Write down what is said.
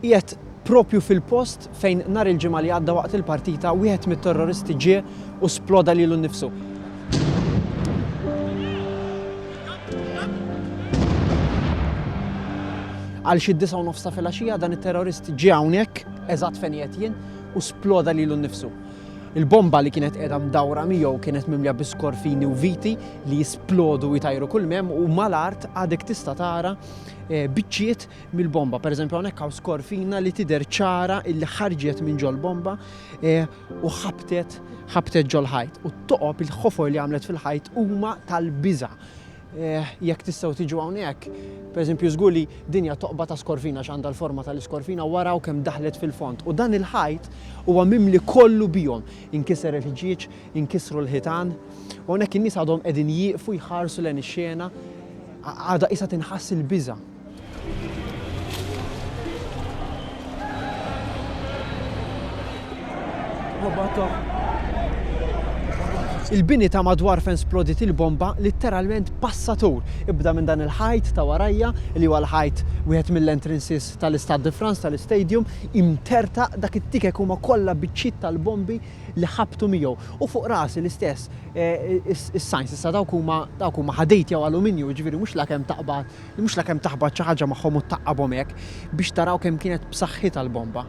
Qiegħed proprju fil-post fejn nhar il-Ġimgħa li għadda waqt il-partita wieħed mit-terroristi ġie u sploda lilu nnifsu. Għal xi disa' u nofs ta' filgħaxija dan it-terrorist ġie hawnhekk eżatt fejn qiegħed jien u sploda lilu nnifsu. Il-bomba li kienet qiegħda mdawra miegħu kienet mimlija bi skorfini u viti li jisplodu u jtajru kull mem u mal-art għadek tista' tara eh, biċċiet mill-bomba. Pereżempju hawnhekk hawn skorfina li tidher ċara illi ħarġet minn ġol-bomba e, u ħabtet ħabtet ġol-ħajt. U t-toqob il-ħofor li għamlet fil-ħajt huma tal-biża. E, jekk tistgħu tiġu hawnhekk, pereżempju żgur li dinja toqba ta' skorfina x'għandha l-forma tal-iskorfina wara u kemm daħlet fil-fond. U dan il-ħajt huwa mimli kollu bihom. Inkiser il-ħġieġ, inkisru l-ħitan, u hawnhekk in-nies għadhom qegħdin jieqfu jħarsu lejn ix-xena għadha isa tinħass il-biża. Il-bini ta' madwar fejn splodit il-bomba litteralment passatur. Ibda minn dan il-ħajt ta' warajja li huwa l-ħajt wieħed mill-entrances tal-Istade de France tal-istadium imterta dak it-tikek huma kollha biċċiet tal-bombi li ħabtu miegħu. U fuq rasi l-istess eh, is-signs issa dawk huma dawk huma ħadid jew aluminju, jiġifieri mhux lakemm taqbad Li mhux la kemm taħbat xi ħaġa magħhom u tgħaqqabhom hekk biex taraw kemm kienet b'saħħitha l-bomba.